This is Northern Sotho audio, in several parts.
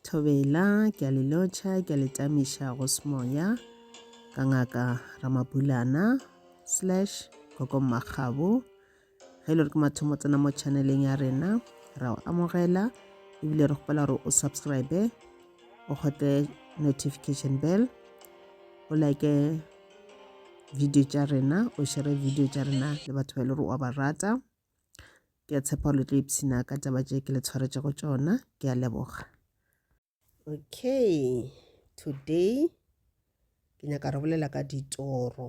Thobela, ke a le lotšha, ke a le tamiša go semoya ka ngaka Ramabulana slash Koko Mmakgabo. Ge e le gore ke mathomo tsena mo channeleng ya rena, ra o amogela ebile re kgopela gore o subscribe o kgote notification bell o like video tša rena o shere video tša rena le batho ba e le gore wa ba rata ke a tshepa le tlo ipshina ka taba tše ke le tshwaretse go tšona ke a leboga okay today ke nyaka re bolela ka ditoro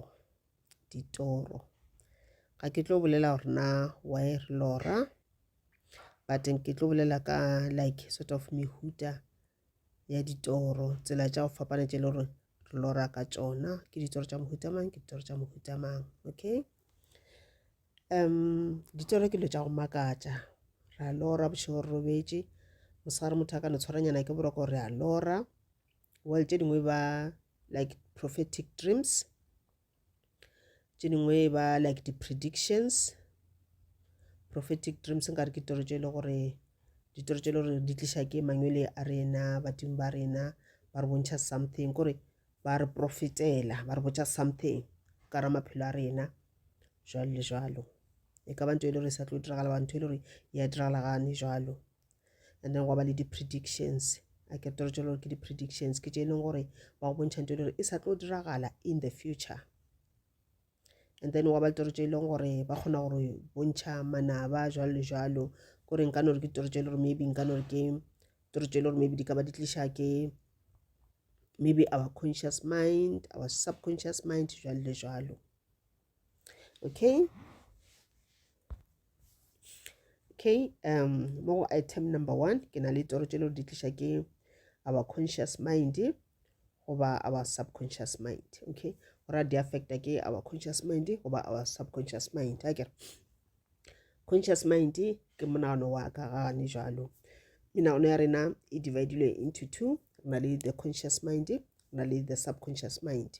ditoro ga ke tlo bolela gore na why re lora but ke tlo bolela ka like sort of mehuta ya ditoro tsela tša go fapana tše e le gore re lora ka tšona ke ditoro tša mohuta mang ke ditoro tša mohuta mang okay um ditoro ke dilo tša go makatša ra lora bošego re robetše mosegare motho a ka no tshwaranyana ke boroko re a lora well tše dingwe ba like prophetic dreams tše dingwe e ba like di predictions prophetic dreams nkare ke toro tše e le gore ditoro tše e le gore di tliša ke mangwele a rena badimo ba rena ba re bontšha something kore ba re profetela ba re botša something ka ra maphelo a rena jalo le jalo e ka ba ntho e le gore e sa tlo diragala ba ntho e le gore ya diragala gane jalo and then gwa ba le di-predictions a ke toro tšelo gore ke di-predictions ke tše e leng gore ba go bontšha nto e le gore e sa tlo diragala in the future and then wa ba litoro tše e leng gore ba kgona gore bontšha manaba jalo le jalo kore nka nore ke ditoro tše e le gore maybe nka nore ke toro tše e le gore maybe di ka ba di tliša ke maybe our conscious mind our subconscious mind jalo le jalo okay okay um mo go item number one ke na le toro tše le di tliša ke our conscious mind goba our subconscious mind okay ora di affecta ke our conscious mind goba our subconscious mind a kere conscious mind ke monagano wa ka gane jalo menagano ya rena e dividilwe into two re na le the conscious mind re na le the subconscious mind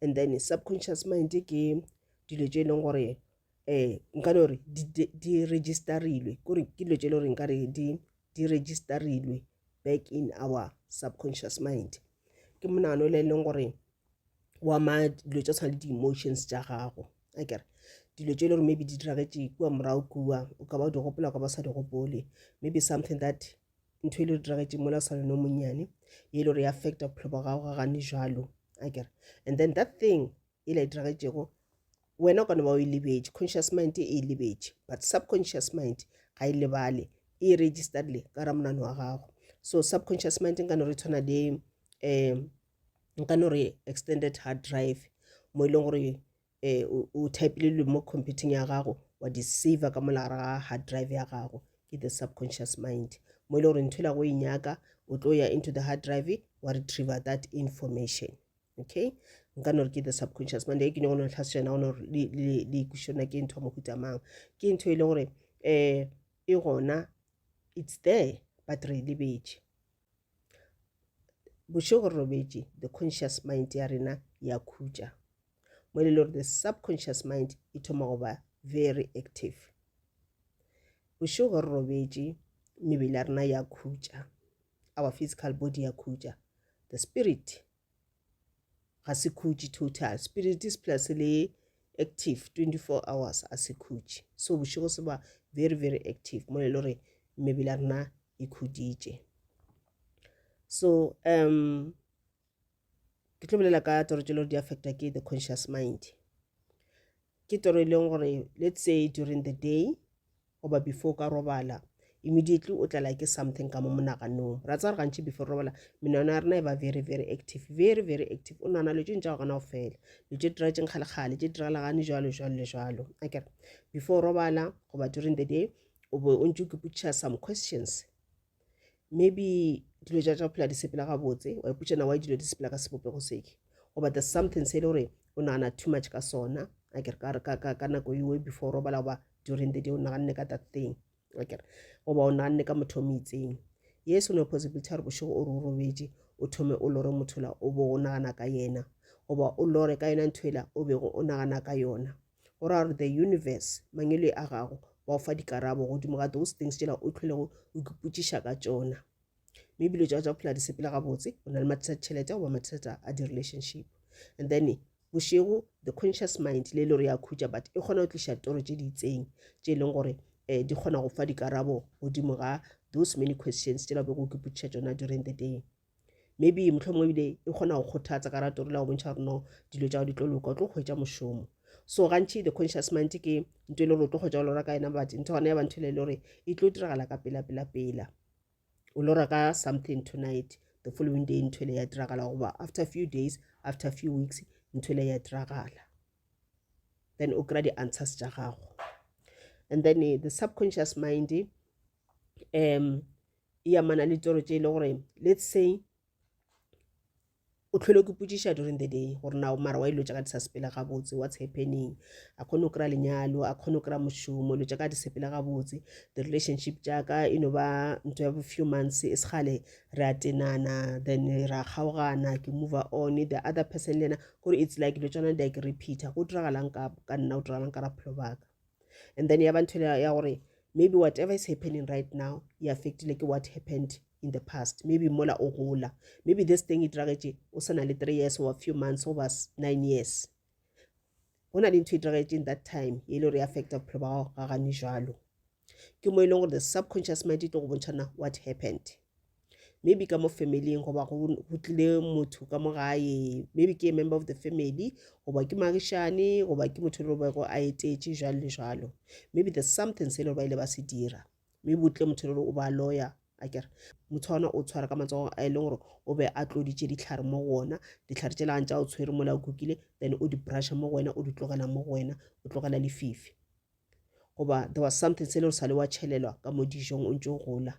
and then subconscious mind ke dilo tše e leng gore um nka no re di registerilwe kore ke dilo tše e le gore nkare di registerilwe back in our subconscious mind ke monano le e leng gore wa ma dilo tša tshwana le di-emotions tša gago a kere dilo tše e le gore maybe di diragetše kua morago kua o ka ba o di gopola o ka ba sa di gopole maybe something that ntho e le re diragetšeng mola swana no monnyane ye e le gore e affecta bophelo ba gago ga gane jalo akere and then that thing e la e diragetšego wena o ka no ba o e lebetše conscious mind e e lebetše but subconscious mind ga e lebale e e registered le ka ra monano wa gago so subconscious mind nka no re tshwana le um nka no re extended hard drive mo e leng gore um o typile dilo mo computing ya gago wa di saver ka mo lagare ga hard drive ya gago ke the subconscious mind mo e le gore ntho e la go e nyaka o tlo ya into the hard drive wa retriever that information okay nka no re ke the subconscious mind e ke nyako no tlhasejana go no le ikušona ke ntho ya mohuta mang ke ntho e le gore um e gona it's there but re e lebetše bošego re robetše the conscious mind ya rena ya khutša mo e le gore the subconscious mind e thoma go ba very active bošego re robetše mebele ya rena ya khutša our physical body ya khutša the spirit ga se khutše total spirit is plus le active 24 hours a se khutše so bošego se ba very very active mo e le gore mebele ya rena e khuditše so um ke tlo bolela ka toro tše lego di affecta ke the conscious mind ke toro e leng gore let's say during the day goba before ka robala immediately o tlala ke something ka mo monaganong ra tsa re gantši before robala menwana ya rena e ba very very active very very active o nana lo tšeng tša gona go fela lo tše dira tšeng kgalekgale tše diralagane jalo jalo le jalo akere before robala goba during the day o be o ntse o kepotšiša some questions maybe dilo tša tša go phela di sepela gabotse wa ipotša na wa dilo di sepela ka sebopego seke goba the something se e le gore o nagana too much ka sona akere ka nako ewe before robala goba during the day o naganne ka that thing akere goba o naganne ka motho o mo itseng yes o ne possibility ya gore bošego o re o robetše o thome o lore motho la o bo o nagana ka yena goba o lore ka yona ntho ela o bego o nagana ka yona go ra gore the universe mangele a gago wa o fa dikarabo godimo ga those things tsela o tlholego o ikipotšiša ka tsona mme ebile tša tša phela di sepela gabotse o na le mathata tšhelete goba mathata a di-relationship and then bošego the conscious mind le e le gore ya khutša but e kgona go tliša toro tše di itseng tše e leng gore um di kgona go fa dikarabo godimo ga those many questions tšela bego o kipotšiša tsona during the day maybe mohlomongwe ebile e kgona go kgothatsa ka ratori la go bontšha gore no dilo tša go di tlo loka o tlo kgwetsa mošomo so gantši the conscious mind ke nto e le gore o tlo kgwetsa o lora ka yena but ntho gona ya bantho le le gore e tlo diragala ka pela pela pela o lora ka something tonight the following day ntho ele ya diragala goba after few days after few weeks ntho ele ya diragala then o kry-a di-answers tša gago and then eh, the subconscious mind um e amana le tsoro tše e le gore let's say o tlhole ke putsiša during the day gore na mara wa ilo tsaka di sa sepele gabotse what's happening a kgone go kry-a lenyalo a kgone go kry-a mošomo ilo tsaka di sepele gabotse the relationship tsaka e no ba ntho ya few months e segale re a tenana then ra kgaogana ke move on the other person le ena gore it's like ilo tswana di a ke repeater go diragalang ka nna go diragalang ka raphelo baka and then ya ba ntho ya gore maybe whatever is happening right now e affectile ke what happened in the past maybe mola o gola maybe this thing e diragetse o se na le three years or few months over nine years go na le ntho e diragetse in that time e le gore e affecta bophelo ba gago ga gane jalo ke mo e leng gore the subconscious mind e tlo go bontšhana what happened maybe ka mo familing goba go tlile motho ka mo gae maybe ke a member of the family goba ke magišane goba ke motho le bego a etetše jalo le jalo maybe the something se le ba ile ba se dira maybe o tle motho le o ba lawyer a kere motho ona o tshwara ka matsogo a e leng gore o be a tloditše ditlhare mo go ona ditlhare tse lantša o tshwere mola o kukile then o di brusha mo go wena o di tlogela mo go wena o tlogela lefifi goba there was something se le o sa le wa tšhelelwa ka mo dijong o ntse o gola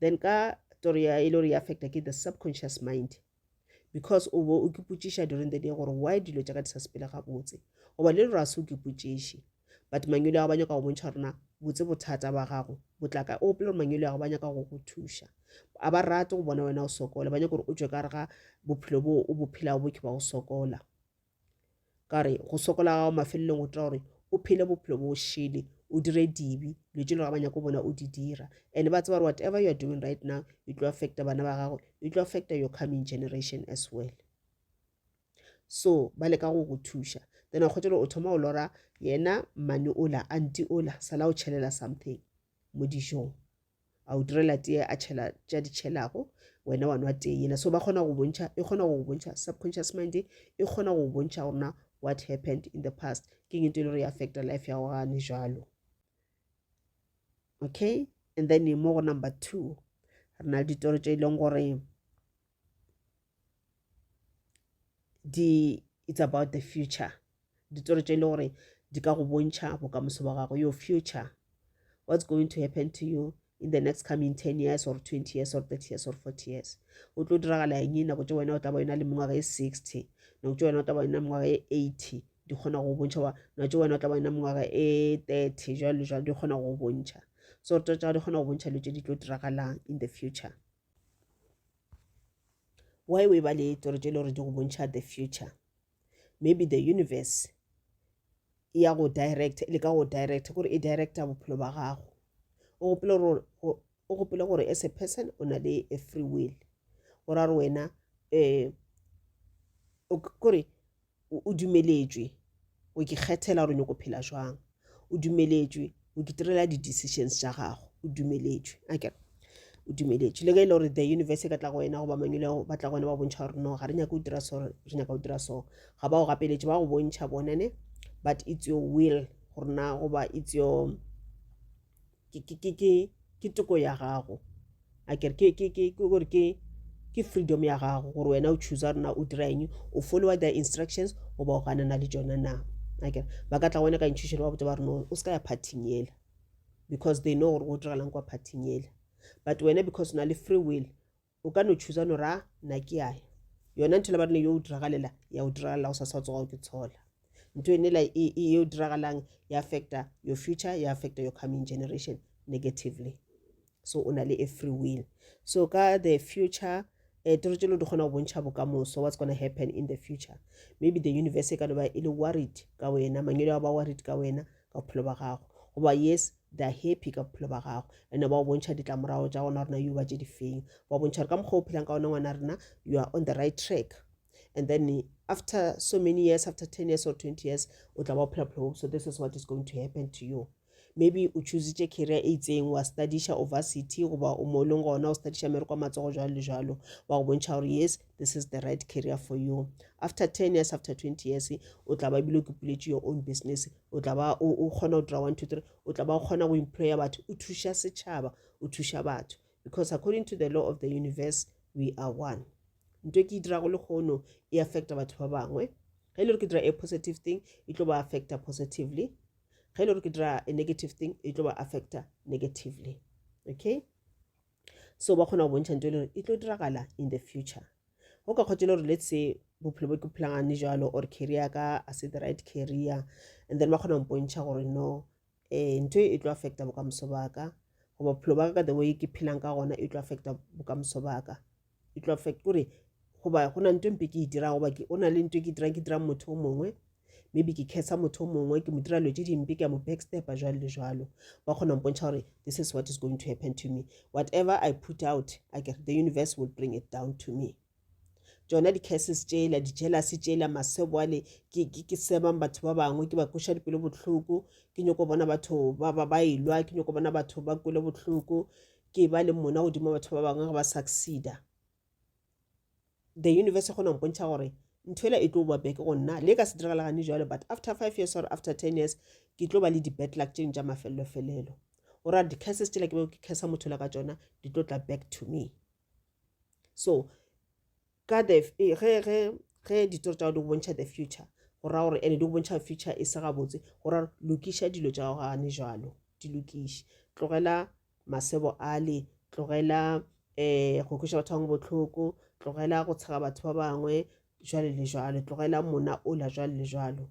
then ka story ya e le gore e affecta ke the subconscious mind because o bo o kipotšiša during the day gore why dilo tša ka di sa sepele gabotse goba le lero a se o kipotšiše but mangwele ya go ba nyaka go bontšha gorena botse bothata ba gago botlaka o opele gore mangwele ya go ba nyaka go go thuša a ba rate go bona wena o sokola ba nyaka gore o tswe ka re ga bophelo bo o bophelago bo ke ba go sokola ka re go sokola gago mafelelong o tira gore o phele bophelo bo šele o dire dibe dilo tse le ga ba nyako bona o di dira and ba tseba gore whatever you are doing right now e tlo affecta bana ba gago e tlo affecta your coming generation as well so ba leka go go thuša then a kgwetsa gore o thoma o lora yena mane ola anti ola sala o tšhelela something mo dijong a o direla tee a tšhela tša di tšhelago wena wa nwa tee yena so ba kgona go bontšha e kgona go bontšha subconscious mind e e kgona go bontšha gorena what happened in the past ke eng e le gore e affecta life ya gogane jalo okay and then mo go number two re na le ditoro tše e leng gore di it's about the future ditoro tše e le gore di ka go bontšha bokamoso ba gago your future what's going to happen to you in the next coming ten years or twenty years or thirty years or forty years o tlo diragala eng nako tse wena o tla ba yona le mengwaga e sixty nako tse wena o tla ba yona mengwaga e eighty di kgona go bontšha wa nako tse wena o tla ba yona mengwaga e thirty jalo jalo di kgona go bontšha so re tsa di kgona go bontšha dilo tse di tlo diragalang in the future why o e ba le toro tše e le gore di go bontšha the future maybe the universe e ya go direct e leka go direct gore e directa bophelo ba gago o gopele gore as a person o na le a free will go ra gore wena um kore O, o dumeletšwe go ke kgethela gore o nyoko phela jwang. O dumeletšwe go ke tirela di-decisions tša gago. O dumeletšwe. A kere? O dumeletšwe. Le ge e le gore the universe e ka tla go wena goba mangwele go batla go wena ba bontšha gore no ga re nyake o dira so re nyaka go dira so ga ba go gapeletše ba go bontšha bonane but it's your will gore na goba it's your ke, ke, ke, ke, ke toko ya gago a kere ke, ke, ke, ke, gore ke ke freedom ya gago gore wena o choosa rena o dira eng o followa the instructions goba o ganana le tsona na akere ba ka tla gone ka intšhušelo ba botsa ba reno o se ka ya parting yela because they know gore go direlang kwa parting yela but wena because o na le free will o ka no tšhuza no ra na ke yae yona ntho le ba rene yo o diragalela ya o diragalela go sasa o tsogago ke tshola ntho ene la e, e yo diragalang ya affecta your future ya affecta your coming generation negatively so o na le a free will so ka the future eh, toro tšelo di kgona go bontšha bokamoso what's gonna happen in the future maybe the universe e ka no ba e le worried ka wena mangelo a ba worried ka wena ka bophelo ba gago goba yes they are happy ka bophelo ba gago ene ba o bontšha ditlamorago tša gona rena yo ba tše difeng ba bontšha gore ka mokgwa o phelang ka gona ngwana rena you are on the right track and then after so many years after ten years or twenty years o tla ba o phela bophelo so this is what is going to happen to you maybe o choositše career e itseng wa studiša over city goba o mo e leng gona o studiša mere kwa matsogo jalo le jalo wa go bontšha gore yes this is the right career for you after 10 years after 20 years o tla ba bile ke puletše your own business o tla ba o kgona go dira one two three o tla ba o kgona go employa batho o thuša setšhaba o thuša batho because according to the law of the universe we are one nto ke e dirago le kgono e affecta batho ba bangwe ge e le gore ke dira a positive thing e tlo ba affecta positively ge e le gore ke dira a negative thing e tlo ba affecta negatively okay so ba kgona go bontšha nto e le gore e tlo diragala in the future go ka kgotse le gore let's say bophelo bo ke phelangane jalo or career ka a se the right career and then ba kgona go mpontšha gore no um ntho e tlo affecta bokamoso baka goba bophelo baka ka the way ke phelang ka gona e tlo affecta bokamoso baka e tlo affect kore goba go na nto mpe ke e dira goba o na le nto e ke dirang ke dirang motho o mongwe maybe ke khetsa motho o mongwe ke mo dira dilo tse dimpe ke a mo backstepa jalo le jalo ba kgona mpontšha gore this is what is going to happen to me whatever i put out i get the universe will bring it down to me tsona di-cases tsela di-jealousy tsela masebo ale ke sebang batho ba bangwe ke ba kweša dipelo bohloko ke nyoko bona batho ba elwa ke nyoko bona batho ba kwele bohloko ke ba le mona godimo batho ba bangwe ge ba succeeda the universe e kgona go mpontšha gore ntho ela e tlo ba beke go nna le ka se diragala gane jalo but after five years or after ten years ke tlo ba le di-bad luck tšeng tša mafelelo-felelo o ra di-curses tšela ke bego ke cursa motho la ka tsona di tlo tla back to me so ka the ge ge ge ditori tša go di go bontšha the future go ra gore ene di go bontšha future e se gabotse go ra lokiša dilo tša go gane jalo di lokiše tlogela masebo ale tlogela um go kweša batho bangwe botlhoko tlogela go tshega batho ba bangwe jwale le jwalo tlogela mona ola jwale le jwalo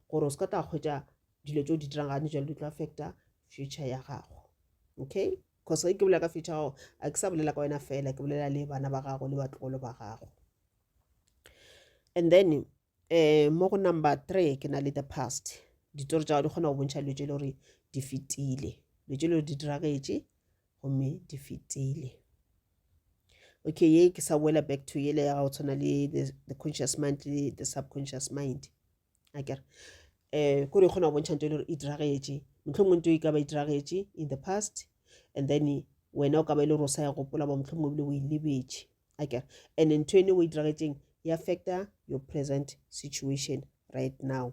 gore o se ka tla kgwetša dilo tse o di dirang gane jalo di tlo affecta future ya gago okay Cause ge ke bolela ka future gago a ke sa bolela ka wena fela ke bolela le bana ba gago le batlogolo ba gago and then um mo go number three ke na le the past ditori tsa gago di kgona go bontšha dilo tse e le gore di fetile dilo tse e le gore di diragetše gomme di fetile okay ye ke sa boela back to yele ya gago tshwana le the conscious mind le the subconscious mind a kere um kore e kgona go bontšha nto e le gore e diragetše mohlomongwe nto e ka ba e diragetše in the past and then wena o ka ba e le gore o sa ya gopola ba mohlomongwe ebile o e lebetše a kere and ntho ene o e diragetšeng e affecta your present situation right now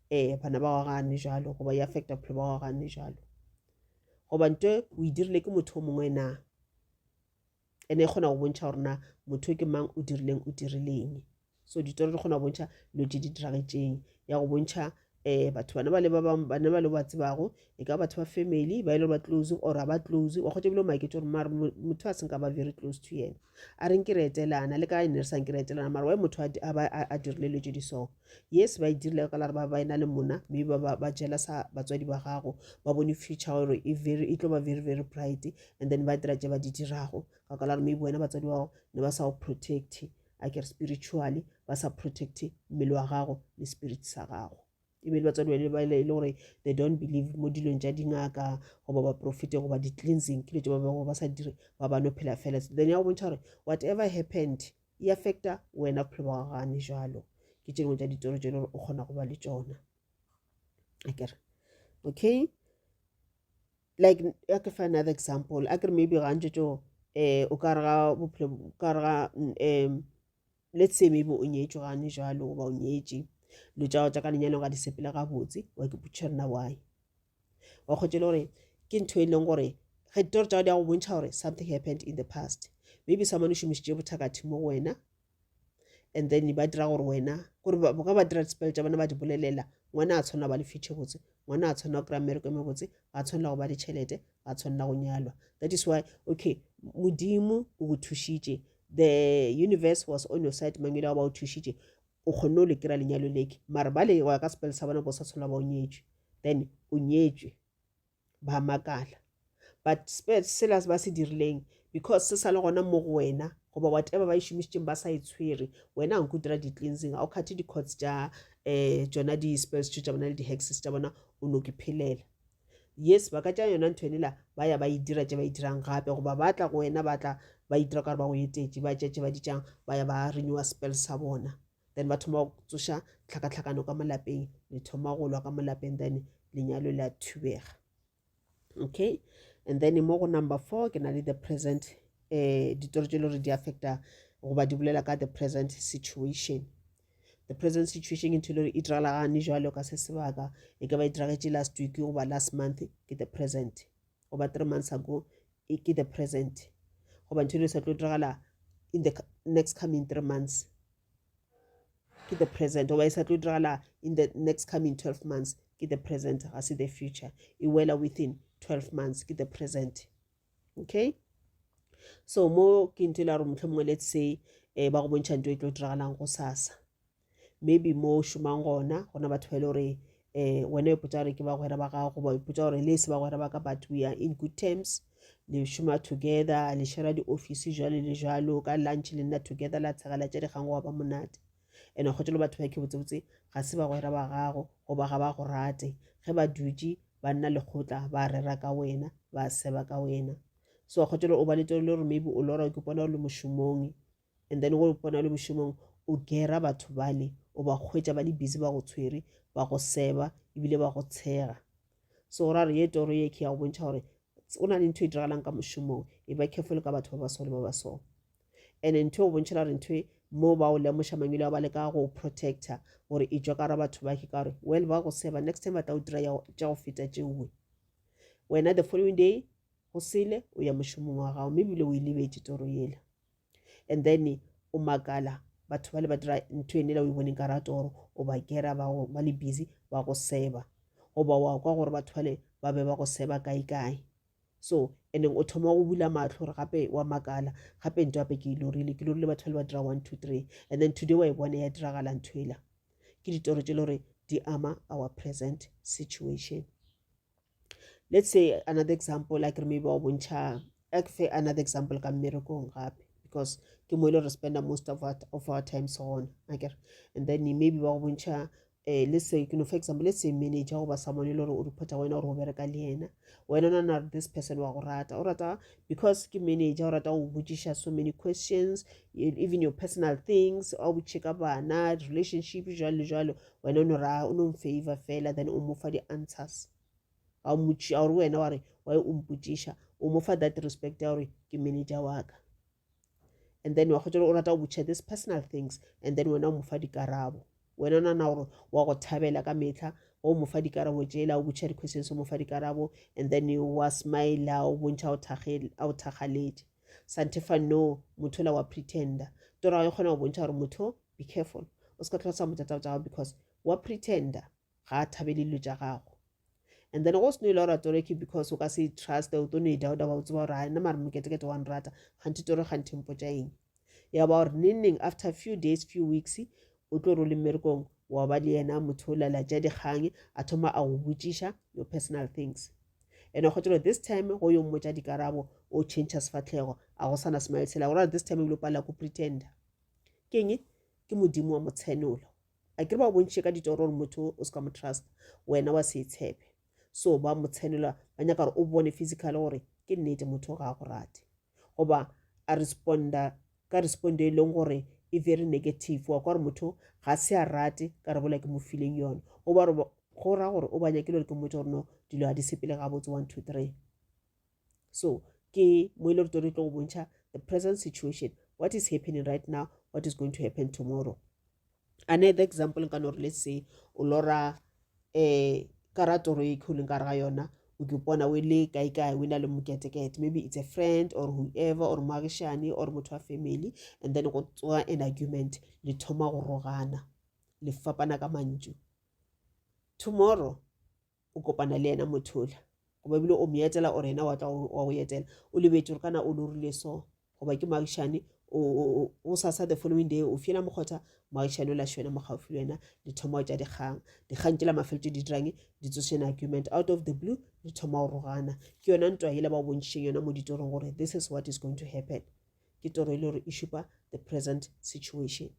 ee bana ba wa gane jalo goba e affecta bophelo ba wa gane jalo goba nto o e dirile ke motho o mongwe na ene e kgona go bontšha gore na motho ke mang o dirileng o dirileng so ditoro di kgona go bontšha dilo tse di diragetšeng ya go bontšha um batho bana ba le ba bangwe bana ba le ba tsebago e ka batho ba family ba e le ba close or a ba close wa kgotsa ebile o maketse gore mare motho a seng ka ba very close to yena a reng ke re etelana le ka e ne re sang ke re etelana mare wa motho a dirile dilo tse di so yes ba e dirile ka lare ba ba e na le mona mme ba ba jela sa batswadi ba gago ba bone future gore e very e tlo ba very very bright and then ba dira tse ba di dirago ka ka lare maybe wena batswadi ba gago ne ba sa go protect a ke re spiritually ba sa protect mmele wa gago le spirit sa gago e be le batswadi ba ba ile e gore they don't believe mo dilong tša dingaka goba baprofete goba di-cleansing ke dilo tse ba bego ba sa dire ba ba no phela fela then ya go bontšha gore whatever happened e affecta wena bophelo ba gagane jalo ke tše dingwe tša ditoro tše e le gore o kgona go ba le tšona akere okay like ya ke fa another example a kere maybe ga ntse tso um o ka re ga bophelo ka re ga um le tsebe bo o nyetšwe gane jalo goba o nyetše dilo tša go tša ka lenyalo ga di sepele gabotse wa ke putšhe rena why wa kgotse le gore ke ntho e leng gore ge ditori tša go di ya go bontšha gore something happened in the past maybe someone o šomišitše bothakatho mo go wena and then ba dira gore wena gore ka ba dira dispele tša bona ba di bolelela ngwana a tshwanela ba le future botse ngwana a tshwanela go kry-a mmereko e mebotse ga a tshwanela go ba ditšhelete ga tshwanela go nyalwa that is why okay modimo o go thušitše the universe was on your side mangwele ba o thušitše o kgonne o le kry-a lenyalo leke mare ba le go ya ka sepele sa bona bo sa tshwanela ba o nyetswe then o nyetswe ba makala but sela ba se dirileng because se sa le gona mo go wena goba whatever ba e šomišitseng ba sa e tshwere wena a nko dira di-cleansing ga o kgathe di-cots tša um eh, tsona di-spells tso tša bona le di-hexes tša bona o no ke phelela Yes, ba ka tšea yona ntho ene la ba ya ba e dira tše ba e dirang gape, goba ba tla go wena ba tla ba itira ka gore ba go etetše, ba tšea tše ba di tšang ba ya ba renewa spell sa bona, then ba thoma go tsoša tlhakatlhakano ka molapeng, le thoma go lwa ka molapeng, then lenyalo le a thubega. Okay, and then mo go number four ke na le the present um ditori tše le gore di affecta goba di bolela ka the present situation. the present situation ke ntho le gore e diragala gane jalo ka se sebaka e ka ba e diragetše last week goba last month ke the present goba three months ago ke the present goba ntho le sa tlo diragala in the next coming three months ke the present goba e sa tlo diragala in the next coming 12 months ke the present ga se the future e wela within 12 months ke the present okay so mo ke ntho e la gore motlho mongwe let's say um ba go bontšha nto e tlo diragalang go sasa maybe mo o šomang gona gona batho ba e le gore um wena o ipotsa gore ke bagwera ba gago ba ipotsa gore le se bagwera ba ka but we are in good terms le šoma together le shera di-office jalo le jalo ka lunch le nna together la tshegela tša dikgang go wa ba monate ene kgotse lo batho ba ke botsebotse ga se bagwera ba gago goba ga ba go rate ge ba dutše ba nna lekgotla ba rera ka wena ba seba ka wena so kgotse o ba letelo le gore maybe o lora ke bona o le mošomong and then o bona o le mošomong o gera batho bale o ba kgwetsa ba le busy ba go tshwere ba go seba ebile ba go tshega so o ra re ye toro ye ke ya go bontšha gore o na le ntho e diragalang ka mošomong e ba careful ka batho ba ba sole ba ba sone and ntho o bontšhela gore ntho e mo ba o lemoša mangwele a ba leka go protector gore e tswa ka ra batho ba ke ka gore well ba go seba next time ba tla o dira tša go feta tšeoe wena the following day go sele o ya mošomong wa gago mme ebile o e lebetse toro yela and then o makala batho ba le ba dira ntho ene la o e boneng ka ratoro o ba kera ba le busy ba go seba goba wa kwa gore batho bale ba be ba go seba kae kae So, and-eng o thoma go bula mahlo gore gape wa makala, gape nto gape ke e lorile, ke lorile batho ba le ba dira one, two, three, and then today wa e bona ya diragala ntho ela. Ke ditoro tse le gore di ama our present situation. Let's say another example, like re maybe wa bontšha, a ke fe another example ka mmerekong gape, because ke mo e le gore re spenda most of our, of our times gona, akere, and then maybe ba go bontšha eh, let's say you know for example let's say manager goba someone e le gore o reporta go wena gore o bereka le yena wena nana re this person wa go rata o rata because ke manager o rata go botšiša so many questions e, even your personal things a botšhe ka bana relationship jalo le jalo wena o no ra o no mfavor fela then o mo fa di-answers a o motši a gore wena wa re wa e o mpotšiša o mo fa that respect ya gore ke manager wa ka and then wa kgotsa o rata go botšha this personal things and then wena o mo fa dikarabo wena o nana gore wa go thabela ka metlha o mo fa dikarabo tsela o botšha di-questions o mo fa dikarabo and then wa smile o bontšha a o thakgaletše santefa no motho la wa pretender torago e kgona go bontšha gore motho be careful o se ka tlhosa motata o tsa gago because wa pretender ga a thabele dilo tša gago and then go seno ile ora toreke because o ka se trust o tlo no e dauda ba o tseba gore a nna mare moketekete wa nrata ganthe tore ganthe mpo tša eng ya ba gore neneng after few days few weeks o tlo role mmerekong wa ba le yena motho o lela tša dikgang a thoma a go botšiša your personal things and a kgotse gore this time go yo mmotša dikarabo o change sefatlhego a go sana smile sela gore this time ebile o palela ko pretender keng ke modimo wa motshenolo a kere ba bontšhe ka ditoro gore motho o se ka mo trust wena wa se tshepe so ba mo tshelela ba nyaka gore o bone physical gore ke nnete motho ga a go rate goba a responda ka respondo e leng gore e very negative wa kwa gore motho ga se a rate ka re bola ke mo fileng yone goba go ra gore o ba nyakile gore ke motho gore no dilo ga di sepele gabotse one two three so ke mo e le gore re tlo go bontšha the present situation what is happening right now what is going to happen tomorrow ane the example nka no re le se o lora um ka ra toro e kholeng ka re ga yona o ke pona o le kae kae o na le moketekete maybe it's a friend or whoever or moagišane or motho wa family and then go tsoga an argument le thoma go rogana le fapana ka mantšu tomorrow o kopana le yena motho ola goba ebile o mo etela ore yena wa tla wa go etela o lebetse gore kana o lorile so goba ke moagišane o sasa the following day o fiela mokgotha moagišane o la šwena mo gaufi le wena le thoma tša dikgang dikgang tšela mafeletse di dirang di tsošena argument out of the blue le thoma go rogana ke yona ntwa yela ba o bontšheng yona mo ditorong gore this is what is going to happen ke toro e le gore e šupa the present situation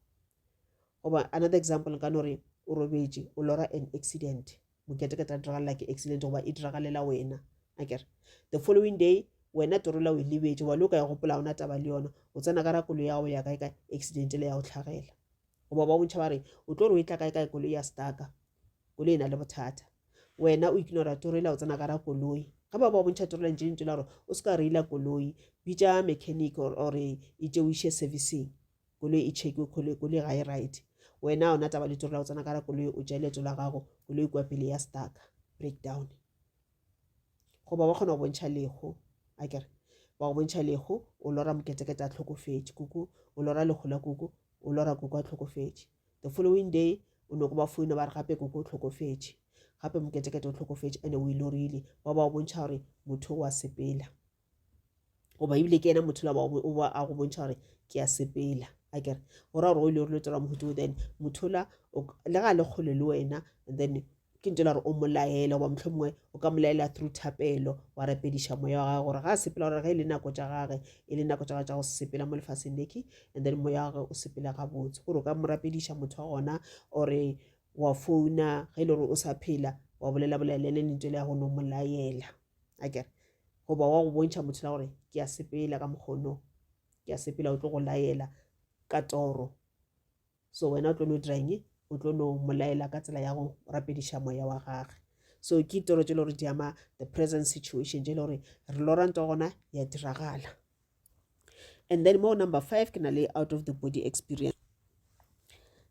goba another example nka no re o robetše o lora an accident moketekete a diragalela ke accident goba e diragalela wena akere the following day wena torola o e lebetše wa le o ka ya gopola ona taba le yona o tsena ka ra kolo ya gago ya kae ka accident le ya go tlhagela goba ba bontšha ba re o tlo re o e tla kae kae kolo ya staka kolo e na le bothata wena o ignora torola o tsena ka ra koloi ga ba ba bontšha torola ntše lentše la gore o se ka reila koloi bitša mechanic or e tšeoiše servicing koloi e chekiwe koloi koloi ga e right wena ona taba letoro la go tsena kara koloi o tšea leeto la gago koloi kua pele ya staka breakdown goba ba kgona go bontšha lego a kere ba go bontšha lego o lora moketekete a tlhokofetše kuku o lora lego la kuku o lora kuku a tlhokofetše the following day o ne go ba foina ba re gape kuku o tlhokofetše gape moketekete o tlhokofetše ande o ilorile ba ba o bontšha gore motho wa sepela goba ebile ke ena motho la o ba a go bontšha gore ke a sepela a kere go ra gore o ile o letela mohuto then motho la le ga le kgole le wena then ke ntse la gore o molaela goba motlho mongwe o ka molaela through thapelo wa rapediša moya wa gage gore ga a sepela gore ge e le nako tša gage e le nako tša gage tša go sepela mo lefaseng leke and then moya wa gage o sepela gabotse gore o ka mo rapediša motho wa gona ore wa founa ge e le gore o sa phela wa bolela bolela le lentswe le ya go no molaela a kere goba wa go bontšha motho la gore ke a sepela ka mokgono ke a sepela o tlo go laela ka toro so wena o tlo no dirang e o tlo no molaela ka tsela ya go rapediša moya wa gage so ke toro tse le gore di ama the present situation tse le gore re loranta gona ya diragala and then mo number five ke na le out of the body experience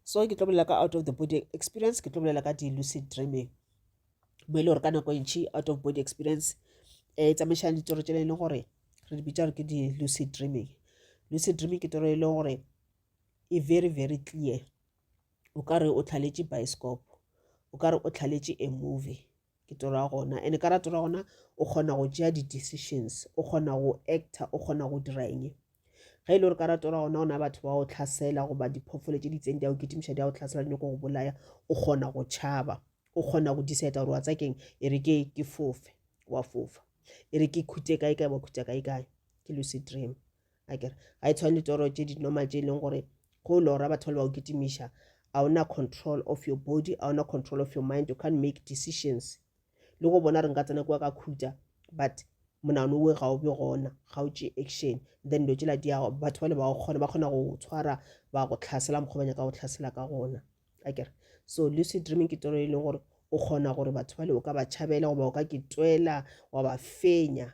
so ke tlo bolela ka out of the body experience ke tlo bolela ka di-lucid dreaming mo e le gore ka nako e ntšhi out of body experience um e tsamaišana ditoro tšela e leng gore re di bitša gore ke di-lucid dreaming lucid dreaming ke toro e leng gore e very very clear o ka re o tlhaletše bioscope o ka re o tlhaletše a movie ke toro ya gona and-e ka ra toro ya gona o kgona go tšea di-decisions o kgona go actor o kgona go dira eng ge e le gore ka ratora gona gona batho ba go tlhasela goba diphoofolo tse di itseng di a go kitimiša di a go tlhasela di nyako go bolaya o kgona go tšhaba o kgona go diseta gore wa tsa keng e re ke ke fofe wa fofa e re ke khute kae kae wa khuta kae kae ke lucy dream a kere ga e tshwane le toro tse di normal tse e leng gore go lora batho ba le ba go kitimiša a ona control of your body a ona control of your mind you can't make decisions le go bona re nka tsena kwa ka khuta but monano we ga o be gona ga o tšee action then dilo tsela di yago batho ba le ba go kgona ba kgona go tshwara ba go tlhasela mokgwa ba nyaka go tlhasela ka gona a kere so lucid dreaming ke toro e leng gore o kgona gore batho ba le o ka ba tšhabela goba o ka ke tswela wa ba fenya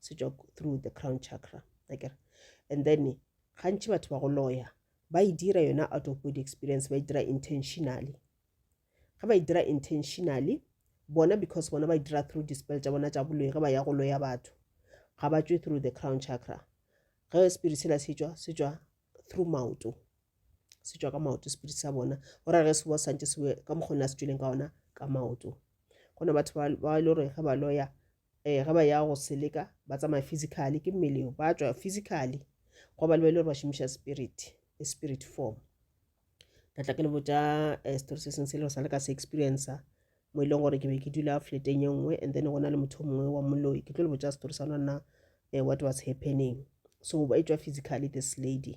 se tšwa through the crown chakra akere and then gantši batho ba go loya ba e dira yona out of body experience ba e dira intentionally ga ba e dira intentionally bona because bona ba e dira through dispel tša bona tša boloi ge ba ya go loya batho ga ba tswe through the crown chakra ge spirit sela se tšwa se tšwa through maoto se tšwa ka maoto spirit sa bona go ra ge se bo santse se ka mokgona se tšweleng ka ona ka maoto gona batho ba e le gore ge ba loya Ee, ge ba ya go seleka, ba tsamaya physically, ke mmele yo, ba tšwa physically, go ba le ba ile gore ba šomiša spirit, e spirit form. Ka tla ke le botša eh, story se seng se le sa le ka se experiencer, mo e leng gore ke be ke dula fleteng ye nngwe and then go na le motho o mongwe wa moloi ke tlo le botša story sa lona eh, what was happening so ba e tšwa physically this lady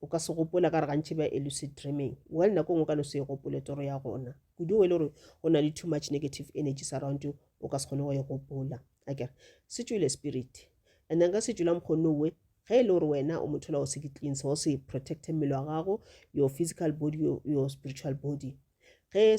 O ka se gopole ka re gantši ba elucid dreaming. Well, nako ngwe o ka no se e gopole toro ya gona. Kudu ngwe e le gore go na le too much negative energies around you, o ka se kgone go e gopola. A kere, se tšwile spirit. And then ka se tšwila mokgonno we, ge e le gore wena o motho la o se di cleanse, o se protecte mmele wa gago, your physical body, your, your spiritual body. Ge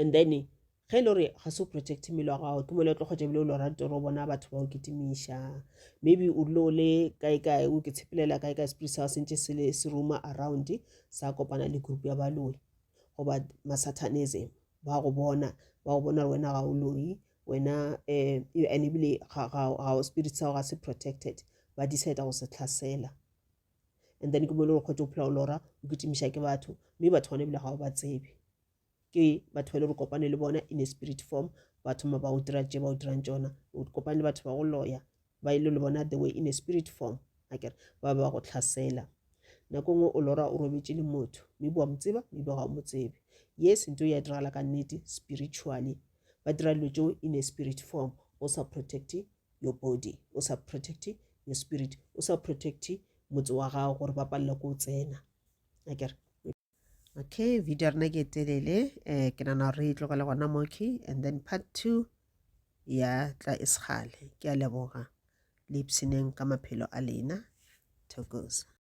and then ge e le gore ga se o protect mmele wa gago ke mole o tlo kgwetsa ebile o lo rate gore o bona batho ba o kitimiša maybe o dule o le kaekae o ke tshepelela kaekae spirit sa se ntse se se roma around sa kopana le group ya baloi goba masatanism ba go bona ba go bona gore wena ga o loyi wena um and ebile ga spirit sa gago ga se protected ba decide go se tlhasela and then ke mo e le gore kgwetse o phela o lora o kitimiša ke batho mme batho gone ebile ga o ba tsebe ke batho ba e le gore kopane le bona in a spirit form batho ma ba o dira tse ba o dirang tsona o kopane le batho ba go loya ba e le le bona the way in a spirit form a kere ba ba go tlhasela nako nngwe o lora o robetse le motho mme boa mo tseba mme ba ga o mo tsebe yes ntho ya diragala ka nnete spiritually ba dira dilo tseo in a spirit form go sa protecte your body o sa protect your spirit o sa protect motse wa gago gore ba palela ko o tsena a kere okay video rena ke telele eh ke nana re e tlogele gona moki and then part two ya tla e segale ke a leboga le ipshineng ka maphelo a lena tokosa